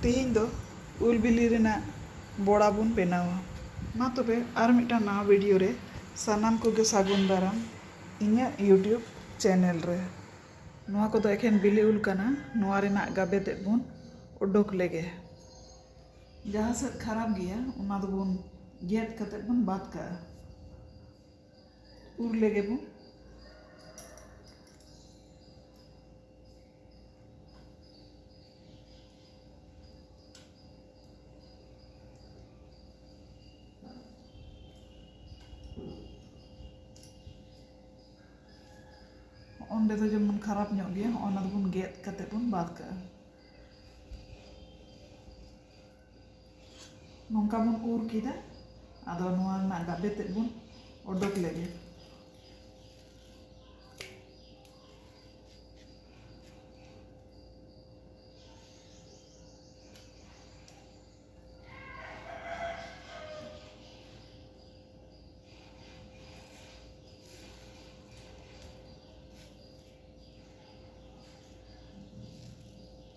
ᱛᱮᱦᱮᱧ ᱫᱚ ᱩᱞ ᱵᱤᱞᱤ ᱨᱮᱱᱟᱜ ᱵᱚᱲᱟ ᱵᱚᱱ ᱵᱮᱱᱟᱣᱟ᱾ ᱢᱟ ᱛᱚᱵᱮ ᱟᱨ ᱢᱤᱫᱴᱟᱝ ᱱᱟᱣᱟ ᱵᱷᱤᱰᱤᱭᱳ ᱨᱮ ᱥᱟᱱᱟᱢ ᱠᱚᱜᱮ ᱥᱟᱹᱜᱩᱱ ᱫᱟᱨᱟᱢ ᱤᱧᱟᱹᱜ ᱭᱩᱴᱭᱩᱵᱽ ᱪᱮᱱᱮᱞ ᱨᱮ᱾ ᱱᱚᱣᱟ ᱠᱚᱫᱚ ᱮᱠᱷᱮᱱ ᱵᱤᱞᱤ ᱩᱞ ᱠᱟᱱᱟ ᱱᱚᱣᱟ ᱨᱮᱱᱟᱜ ᱜᱟᱵᱮ ᱛᱮᱫ ᱵᱚᱱ ᱚᱰᱚᱠ ᱞᱮᱜᱮ᱾ ᱡᱟᱦᱟᱸ ᱥᱮᱫ ᱠᱷᱟᱨᱟᱯ ᱜᱮᱭᱟ ᱚᱱᱟ ᱫᱚᱵᱚᱱ ᱜᱮᱫ ᱠᱟᱛᱮ ᱵᱚᱱ ᱵᱟᱫᱽ ᱠᱟᱜᱼᱟ᱾ ᱩᱨ ᱞᱮᱜᱮ ᱵᱚᱱ ᱚᱸᱰᱮ ᱫᱚ ᱡᱮᱢᱚᱱ ᱠᱷᱟᱨᱟᱯ ᱧᱚᱜ ᱜᱮᱭᱟ ᱚᱱᱟ ᱫᱚᱵᱚᱱ ᱜᱮᱫ ᱠᱟᱛᱮ ᱵᱚᱱ ᱵᱟᱫ ᱠᱟᱜᱼᱟ ᱱᱚᱝᱠᱟ ᱵᱚᱱ ᱩᱨ ᱠᱮᱫᱟ ᱟᱫᱚ ᱱᱚᱣᱟ ᱨᱮᱱᱟᱜ ᱜᱟᱵᱮ ᱛᱮᱫ ᱵᱚᱱ ᱚᱰᱚᱠ ᱞᱮᱜᱮ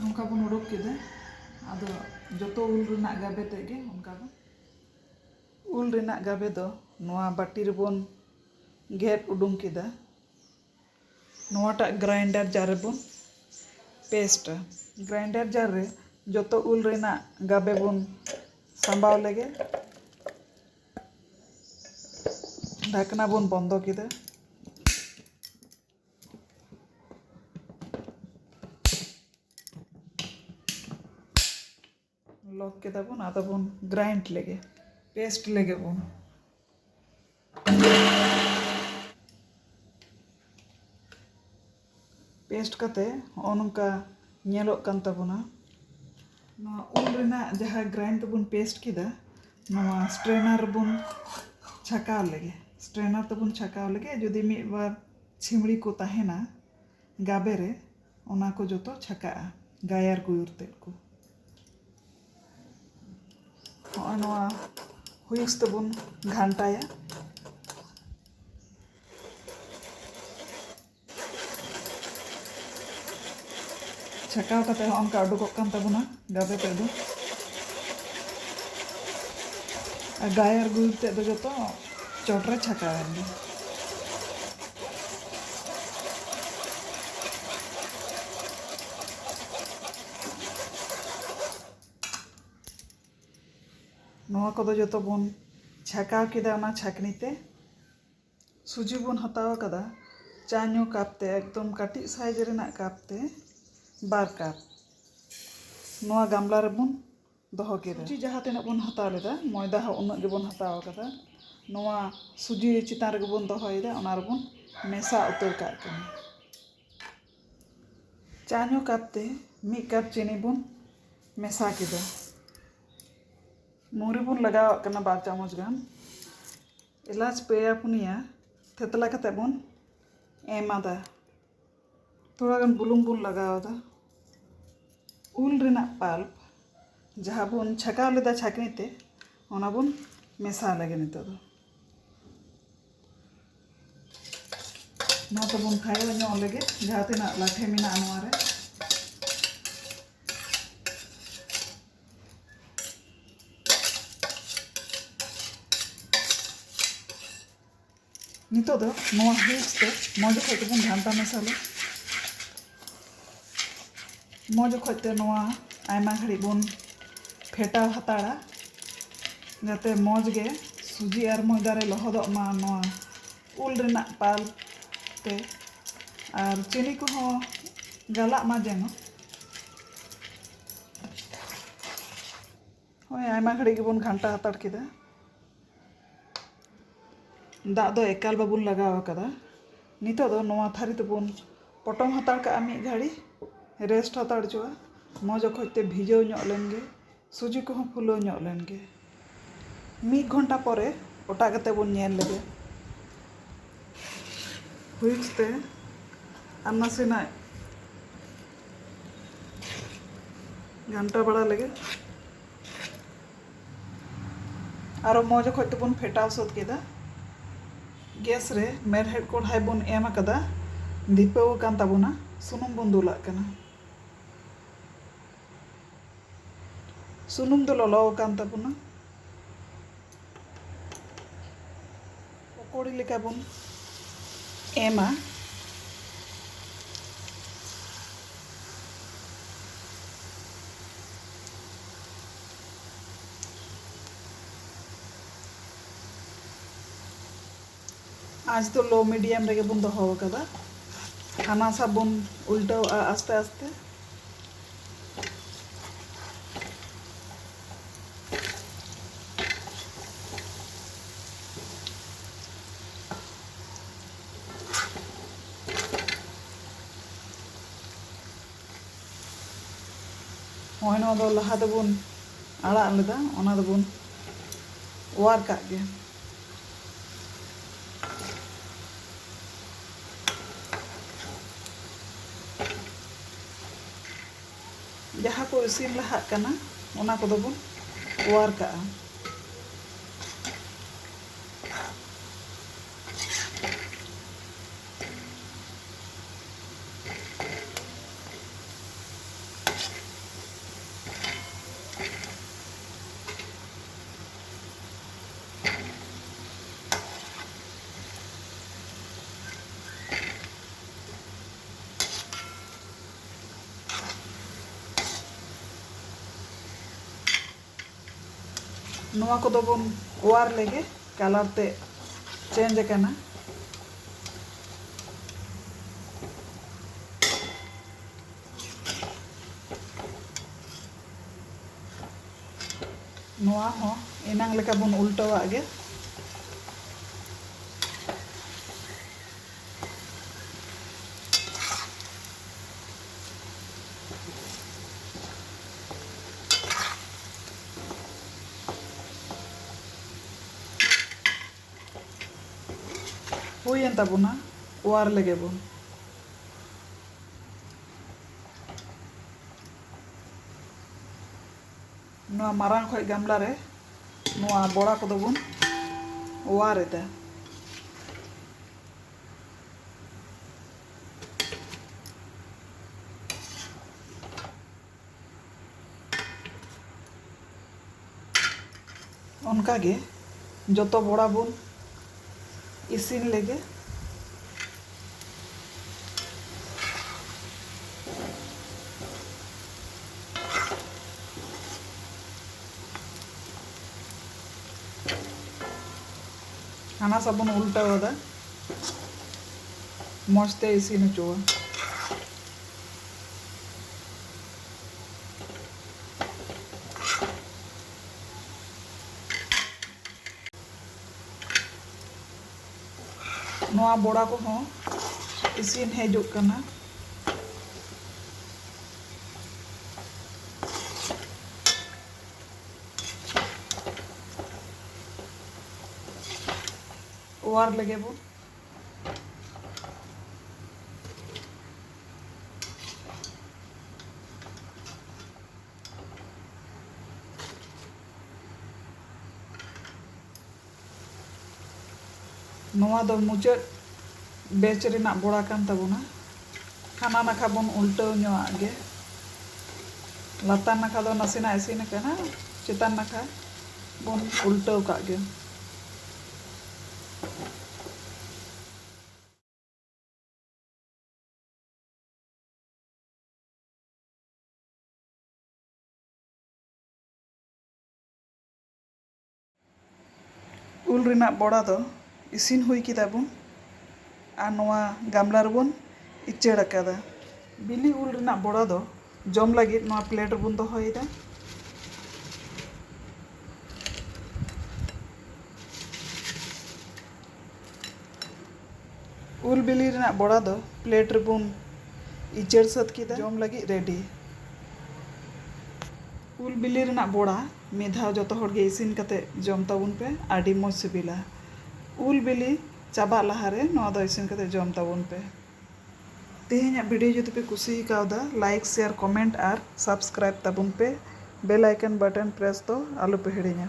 ᱱᱚᱝᱠᱟ ᱵᱚᱱ ᱚᱰᱚᱠ ᱠᱮᱫᱟ ᱟᱫᱚ ᱡᱚᱛᱚ ᱩᱞ ᱨᱮᱱᱟᱜ ᱜᱟᱵᱮ ᱛᱮᱫ ᱜᱮ ᱚᱱᱠᱟ ᱵᱚᱱ ᱩᱞ ᱨᱮᱱᱟᱜ ᱜᱟᱵᱮ ᱫᱚ ᱱᱚᱣᱟ ᱵᱟᱹᱴᱤ ᱨᱮᱵᱚᱱ ᱜᱮᱫ ᱩᱰᱩᱝ ᱠᱮᱫᱟ ᱱᱚᱣᱟᱴᱟᱜ ᱜᱨᱟᱭᱤᱱᱰᱟᱨ ᱡᱟᱨ ᱨᱮᱵᱚᱱ ᱯᱮᱥᱴᱟ ᱜᱨᱟᱭᱤᱱᱰᱟᱨ ᱡᱟᱨ ᱨᱮ ᱡᱚᱛᱚ ᱩᱞ ᱨᱮᱱᱟᱜ ᱜᱟᱵᱮ ᱵᱚᱱ ᱥᱟᱢᱵᱟᱣ ᱞᱮᱜᱮ ᱰᱷᱟᱠᱱᱟ ᱵᱚᱱ ᱵᱚᱱᱫᱚ ᱠᱮᱫᱟ ᱞᱚᱠ ᱠᱮᱫᱟ ᱵᱚᱱ ᱟᱫᱚ ᱵᱚᱱ ᱜᱨᱟᱭᱤᱱᱰ ᱞᱮᱜᱮ ᱯᱮᱥᱴ ᱞᱮᱜᱮ ᱵᱚᱱ ᱯᱮᱥᱴ ᱠᱟᱛᱮ ᱦᱚᱸᱜᱼᱚ ᱱᱚᱝᱠᱟ ᱧᱮᱞᱚᱜ ᱠᱟᱱ ᱛᱟᱵᱚᱱᱟ ᱱᱚᱣᱟ ᱩᱞ ᱨᱮᱱᱟᱜ ᱡᱟᱦᱟᱸ ᱜᱨᱟᱭᱤᱱᱰ ᱛᱮᱵᱚᱱ ᱯᱮᱥᱴ ᱠᱮᱫᱟ ᱱᱚᱣᱟ ᱥᱴᱨᱮᱱᱟᱨ ᱨᱮᱵᱚᱱ ᱪᱷᱟᱠᱟᱣ ᱞᱮᱜᱮ ᱥᱴᱨᱮᱱᱟᱨ ᱛᱮᱵᱚᱱ ᱪᱷᱟᱠᱟᱣ ᱞᱮᱜᱮ ᱡᱩᱫᱤ ᱢᱤᱫ ᱵᱟᱨ ᱪᱷᱤᱢᱲᱤ ᱠᱚ ᱛᱟᱦᱮᱱᱟ ᱜᱟᱵᱮ ᱨᱮ ᱚᱱᱟ ᱠᱚ ᱡᱚᱛᱚ ᱪᱷᱟᱠᱟᱜᱼᱟ ᱜᱟᱭᱟᱨ ᱜᱩᱭᱩᱨ ᱛᱮᱫ ᱠᱚ ᱦᱚᱸᱜᱼᱚᱭ ᱱᱚᱣᱟ ᱦᱩᱭᱩᱥ ᱛᱮᱵᱚᱱ ᱜᱷᱟᱱᱴᱟᱭᱟ ᱪᱷᱟᱠᱟᱣ ᱠᱟᱛᱮ ᱦᱚᱸ ᱚᱱᱠᱟ ᱩᱰᱩᱠᱚᱜ ᱠᱟᱱ ᱛᱟᱵᱚᱱᱟ ᱜᱟᱵᱮ ᱛᱮᱫ ᱫᱚ ᱟᱨ ᱜᱟᱭ ᱟᱨ ᱜᱩᱭᱩᱨ ᱛᱮᱫ ᱫᱚ ᱡᱚᱛᱚ ᱪᱚᱴ ᱨᱮ ᱪᱷᱟᱠᱟᱣᱮᱱ ᱜᱮ ᱱᱚᱣᱟ ᱠᱚᱫᱚ ᱡᱚᱛᱚ ᱵᱚᱱ ᱪᱷᱟᱠᱟᱣ ᱠᱮᱫᱟ ᱚᱱᱟ ᱪᱷᱟᱠᱱᱤ ᱛᱮ ᱥᱩᱡᱤ ᱵᱚᱱ ᱦᱟᱛᱟᱣ ᱟᱠᱟᱫᱟ ᱪᱟ ᱧᱩ ᱠᱟᱯ ᱛᱮ ᱮᱠᱫᱚᱢ ᱠᱟᱹᱴᱤᱡ ᱥᱟᱭᱤᱡᱽ ᱨᱮᱱᱟᱜ ᱠᱟᱯ ᱛᱮ ᱵᱟᱨ ᱠᱟᱯ ᱱᱚᱣᱟ ᱜᱟᱢᱞᱟ ᱨᱮᱵᱚᱱ ᱫᱚᱦᱚ ᱠᱮᱫᱟ ᱥᱩᱡᱤ ᱡᱟᱦᱟᱸ ᱛᱤᱱᱟᱹᱜ ᱵᱚᱱ ᱦᱟᱛᱟᱣ ᱞᱮᱫᱟ ᱢᱚᱭᱫᱟ ᱦᱚᱸ ᱩᱱᱟᱹᱜ ᱜᱮᱵᱚᱱ ᱦᱟᱛᱟᱣ ᱟᱠᱟᱫᱟ ᱱᱚᱣᱟ ᱥᱩᱡᱤ ᱪᱮᱛᱟᱱ ᱨᱮᱜᱮ ᱵᱚᱱ ᱫᱚᱦᱚᱭᱮᱫᱟ ᱚᱱᱟ ᱨᱮᱵᱚᱱ ᱢᱮᱥᱟ ᱩᱛᱟᱹᱨ ᱠᱟᱜ ᱠᱟᱱᱟ ᱪᱟ ᱧᱩ ᱠᱟᱯ ᱛᱮ ᱢᱤᱫ ᱠᱟᱯ ᱪᱤᱱᱤ ᱵᱚᱱ ᱢᱮᱥᱟ ᱠᱮᱫᱟ ᱢᱩᱨᱤ ᱵᱚᱱ ᱞᱟᱜᱟᱣᱟᱜ ᱠᱟᱱᱟ ᱵᱟᱨ ᱪᱟᱢᱚᱪ ᱜᱟᱱ ᱮᱞᱟᱪ ᱯᱮᱭᱟ ᱯᱩᱱᱭᱟ ᱛᱷᱮᱛᱞᱟ ᱠᱟᱛᱮ ᱵᱚᱱ ᱮᱢ ᱟᱫᱟ ᱛᱷᱚᱲᱟ ᱜᱟᱱ ᱵᱩᱞᱩᱝ ᱵᱚᱱ ᱞᱟᱜᱟᱣ ᱟᱫᱟ ᱩᱞ ᱨᱮᱱᱟᱜ ᱯᱟᱞᱯ ᱡᱟᱦᱟᱸ ᱵᱚᱱ ᱪᱷᱟᱠᱟᱣ ᱞᱮᱫᱟ ᱪᱷᱟᱠᱱᱤ ᱛᱮ ᱚᱱᱟ ᱵᱚᱱ ᱢᱮᱥᱟ ᱞᱮᱜᱮ ᱱᱤᱛᱚᱜ ᱫᱚ ᱱᱚᱣᱟ ᱛᱮᱵᱚᱱ ᱠᱷᱟᱭᱚ ᱧᱚᱜ ᱞᱮᱜᱮ ᱡᱟᱦᱟᱸ ᱛᱤᱱᱟᱹᱜ ᱞᱟᱴᱷᱮ ᱢᱮᱱᱟᱜᱼᱟ ᱱᱚᱣᱟ ᱨᱮ ᱱᱤᱛᱚᱜ ᱫᱚ ᱱᱚᱣᱟ ᱦᱩᱭᱤᱡ ᱛᱮ ᱢᱚᱡᱽ ᱚᱠᱚᱡ ᱛᱮᱵᱚᱱ ᱜᱷᱟᱱᱴᱟ ᱢᱮᱥᱟᱞᱟ ᱢᱚᱡᱽ ᱚᱠᱚᱡ ᱛᱮ ᱱᱚᱣᱟ ᱟᱭᱢᱟ ᱜᱷᱟᱹᱲᱤᱡ ᱵᱚᱱ ᱯᱷᱮᱴᱟᱣ ᱦᱟᱛᱟᱲᱟ ᱡᱟᱛᱮ ᱢᱚᱡᱽ ᱜᱮ ᱥᱩᱡᱤ ᱟᱨ ᱢᱚᱭᱫᱟ ᱨᱮ ᱞᱚᱦᱚᱫᱚᱜ ᱢᱟ ᱱᱚᱣᱟ ᱩᱞ ᱨᱮᱱᱟᱜ ᱯᱟᱞᱯ ᱛᱮ ᱟᱨ ᱪᱤᱱᱤ ᱠᱚᱦᱚᱸ ᱜᱟᱞᱟᱜ ᱢᱟ ᱡᱮᱱᱚ ᱦᱳᱭ ᱟᱭᱢᱟ ᱜᱷᱟᱹᱲᱤᱡ ᱜᱮᱵᱚᱱ ᱜᱷᱟᱱᱴᱟ ᱦᱟᱛᱟᱲ ᱠᱮᱫᱟ ᱫᱟᱜ ᱫᱚ ᱮᱠᱟᱞ ᱵᱟᱵᱚᱱ ᱞᱟᱜᱟᱣ ᱟᱠᱟᱫᱟ ᱱᱤᱛᱚᱜ ᱫᱚ ᱱᱚᱣᱟ ᱛᱷᱟᱹᱨᱤ ᱛᱮᱵᱚᱱ ᱯᱚᱴᱚᱢ ᱦᱟᱛᱟᱲ ᱠᱟᱜᱼᱟ ᱢᱤᱫ ᱜᱷᱟᱹᱲᱤᱡ ᱨᱮᱥᱴ ᱦᱟᱛᱟᱲ ᱦᱚᱪᱚᱣᱟᱜᱼᱟ ᱢᱚᱡᱽ ᱚᱠᱚᱡ ᱛᱮ ᱵᱷᱤᱡᱟᱹᱣ ᱧᱚᱜ ᱞᱮᱱᱜᱮ ᱥᱩᱡᱤ ᱠᱚᱦᱚᱸ ᱯᱷᱩᱞᱟᱹᱣ ᱧᱚᱜ ᱞᱮᱱᱜᱮ ᱢᱤᱫ ᱜᱷᱚᱱᱴᱟ ᱯᱚᱨᱮ ᱚᱴᱟᱜ ᱠᱟᱛᱮ ᱵᱚᱱ ᱧᱮᱞ ᱞᱮᱜᱮ᱾ ᱦᱩᱭᱤᱠᱥ ᱛᱮ ᱟᱨ ᱱᱟᱥᱮᱱᱟᱜ ᱜᱷᱟᱱᱴᱟ ᱵᱟᱲᱟ ᱞᱮᱜᱮ᱾ ᱟᱨᱚ ᱢᱚᱡᱽ ᱚᱠᱚᱡ ᱛᱮᱵᱚᱱ ᱯᱷᱮᱴᱟᱣ ᱥᱟᱹᱛ ᱠᱮᱫᱟ᱾ ᱜᱮᱥ ᱨᱮ ᱢᱮᱬᱦᱮᱫ ᱠᱚᱲᱦᱟᱭ ᱵᱚᱱ ᱮᱢ ᱟᱠᱟᱫᱟ᱾ ᱫᱷᱤᱯᱟᱹᱣ ᱟᱠᱟᱱ ᱛᱟᱵᱚᱱᱟ᱾ ᱥᱩᱱᱩᱢ ᱵᱚᱱ ᱫᱩᱞᱟᱜ ᱠᱟᱱᱟ᱾ ᱥᱩᱱᱩᱢ ᱫᱚ ᱞᱚᱞᱚ ᱟᱠᱟᱱ ᱛᱟᱵᱚᱱᱟ᱾ ᱯᱚᱠᱚᱲᱤ ᱞᱮᱠᱟ ᱵᱚᱱ ᱮᱢᱟ᱾ ᱟᱸᱪ ᱫᱚ ᱞᱳ ᱢᱤᱰᱤᱭᱟᱢ ᱨᱮᱜᱮ ᱵᱚᱱ ᱫᱚᱦᱚ ᱟᱠᱟᱫᱟ ᱦᱟᱱᱟ ᱥᱟ ᱵᱚᱱ ᱩᱞᱴᱟᱹᱣᱟᱜᱼᱟ ᱟᱥᱛᱮ ᱟᱥᱛᱮ ᱱᱚᱜᱼᱚᱭ ᱱᱚᱣᱟ ᱫᱚ ᱞᱟᱦᱟ ᱛᱮᱵᱚᱱ ᱟᱲᱟᱜ ᱞᱮᱫᱟ ᱚᱱᱟ ᱫᱚᱵᱚᱱ ᱚᱣᱟᱨ ᱠᱟᱜ ᱜᱮ ᱡᱟᱦᱟᱸ ᱠᱚ ᱤᱥᱤᱱ ᱞᱟᱦᱟᱜ ᱠᱟᱱᱟ ᱚᱱᱟ ᱠᱚᱫᱚ ᱵᱚᱱ ᱚᱣᱟᱨ ᱠᱟᱜᱼᱟ ᱱᱚᱣᱟ ᱠᱚᱫᱚ ᱵᱚᱱ ᱚᱣᱟᱨ ᱞᱮᱜᱮ ᱠᱟᱞᱟᱨ ᱛᱮ ᱪᱮᱧᱡᱽ ᱟᱠᱟᱱᱟ ᱱᱚᱣᱟ ᱦᱚᱸ ᱮᱱᱟᱝ ᱞᱮᱠᱟ ᱵᱚᱱ ᱩᱞᱴᱟᱹᱣᱟᱜ ᱜᱮ ᱦᱩᱭᱮᱱ ᱛᱟᱵᱚᱱᱟ ᱚᱣᱟᱨ ᱞᱮᱜᱮ ᱵᱚᱱ ᱱᱚᱣᱟ ᱢᱟᱨᱟᱝ ᱚᱠᱚᱡ ᱜᱟᱢᱞᱟ ᱨᱮ ᱱᱚᱣᱟ ᱵᱚᱲᱟ ᱠᱚᱫᱚ ᱵᱚᱱ ᱚᱣᱟᱨ ᱮᱫᱟ ᱚᱱᱠᱟ ᱜᱮ ᱡᱚᱛᱚ ᱵᱚᱲᱟ ᱵᱚᱱ ᱤᱥᱤᱱ ᱞᱮᱜᱮ ᱦᱟᱱᱟ ᱥᱟ ᱵᱚᱱ ᱩᱞᱴᱟᱹᱣ ᱟᱫᱟ ᱢᱚᱡᱽ ᱛᱮ ᱤᱥᱤᱱ ᱦᱚᱪᱚᱣᱟ ᱱᱚᱣᱟ ᱵᱚᱲᱟ ᱠᱚᱦᱚᱸ ᱤᱥᱤᱱ ᱦᱮᱡᱚᱜ ᱠᱟᱱᱟ ᱚᱣᱟᱨ ᱞᱮᱜᱮ ᱵᱚ ᱱᱚᱣᱟ ᱫᱚ ᱢᱩᱪᱟᱹᱫ ᱵᱮᱪ ᱨᱮᱱᱟᱜ ᱵᱚᱲᱟ ᱠᱟᱱ ᱛᱟᱵᱚᱱᱟ ᱦᱟᱱᱟ ᱱᱟᱠᱷᱟ ᱵᱚᱱ ᱩᱞᱴᱟᱹᱣ ᱧᱚᱜ ᱟᱜ ᱜᱮ ᱞᱟᱛᱟᱨ ᱱᱟᱠᱷᱟ ᱫᱚ ᱱᱟᱥᱮᱱᱟᱜ ᱤᱥᱤᱱ ᱟᱠᱟᱱᱟ ᱪᱮᱛᱟᱱ ᱱᱟᱠᱷᱟ ᱵᱚᱱ ᱩᱞᱴᱟᱹᱣ ᱠᱟᱜ ᱜᱮ ᱩᱞ ᱨᱮᱱᱟᱜ ᱵᱚᱲᱟ ᱫᱚ ᱤᱥᱤᱱ ᱦᱩᱭ ᱠᱮᱫᱟ ᱵᱚᱱ ᱟᱨ ᱱᱚᱣᱟ ᱜᱟᱢᱞᱟ ᱨᱮᱵᱚᱱ ᱤᱪᱟᱹᱲ ᱟᱠᱟᱫᱟ ᱵᱤᱞᱤ ᱩᱞ ᱨᱮᱱᱟᱜ ᱵᱚᱲᱟ ᱫᱚ ᱡᱚᱢ ᱞᱟᱹᱜᱤᱫ ᱱᱚᱣᱟ ᱯᱞᱮᱴ ᱨᱮᱵᱚᱱ ᱫᱚᱦᱚᱭᱮᱫᱟ᱾ ᱩᱞ ᱵᱤᱞᱤ ᱨᱮᱱᱟᱜ ᱵᱚᱲᱟ ᱫᱚ ᱯᱞᱮᱴ ᱨᱮᱵᱚᱱ ᱤᱪᱟᱹᱲ ᱥᱟᱹᱛ ᱠᱮᱫᱟ᱾ ᱡᱚᱢ ᱞᱟᱹᱜᱤᱫ ᱨᱮᱰᱤ᱾ ᱩᱞ ᱵᱤᱞᱤ ᱨᱮᱱᱟᱜ ᱵᱚᱲᱟ ᱢᱤᱫ ᱫᱷᱟᱣ ᱡᱚᱛᱚ ᱦᱚᱲ ᱜᱮ ᱤᱥᱤᱱ ᱠᱟᱛᱮ ᱡᱚᱢ ᱛᱟᱵᱚᱱ ᱯᱮ ᱟᱹᱰᱤ ᱢᱚᱡᱽ ᱥᱤᱵᱤᱞᱟ᱾ ᱩᱞ ᱵᱤᱞᱤ ᱪᱟᱵᱟᱜ ᱞᱟᱦᱟ ᱨᱮ ᱱᱚᱣᱟ ᱫᱚ ᱤᱥᱤᱱ ᱠᱟᱛᱮ ᱡᱚᱢ ᱛᱟᱵᱚᱱ ᱯᱮ᱾ ᱛᱮᱦᱮᱧᱟᱜ ᱵᱷᱤᱰᱤᱭᱳ ᱡᱩᱫᱤ ᱯᱮ ᱠᱩᱥᱤ ᱟᱠᱟᱣᱫᱟ ᱞᱟᱭᱤᱠ ᱥᱮᱭᱟᱨ ᱠᱚᱢᱮᱱᱴ ᱟᱨ ᱥᱟᱵᱥᱠᱨᱟᱭᱤᱵ ᱛᱟᱵᱚᱱ ᱯᱮ ᱵᱮᱞ ᱟᱭᱠᱚᱱ ᱵᱟᱴᱚᱱ ᱯᱨᱮᱥ ᱫᱚ ᱟᱞᱚ ᱯᱮ ᱦᱤᱲᱤᱧᱟ᱾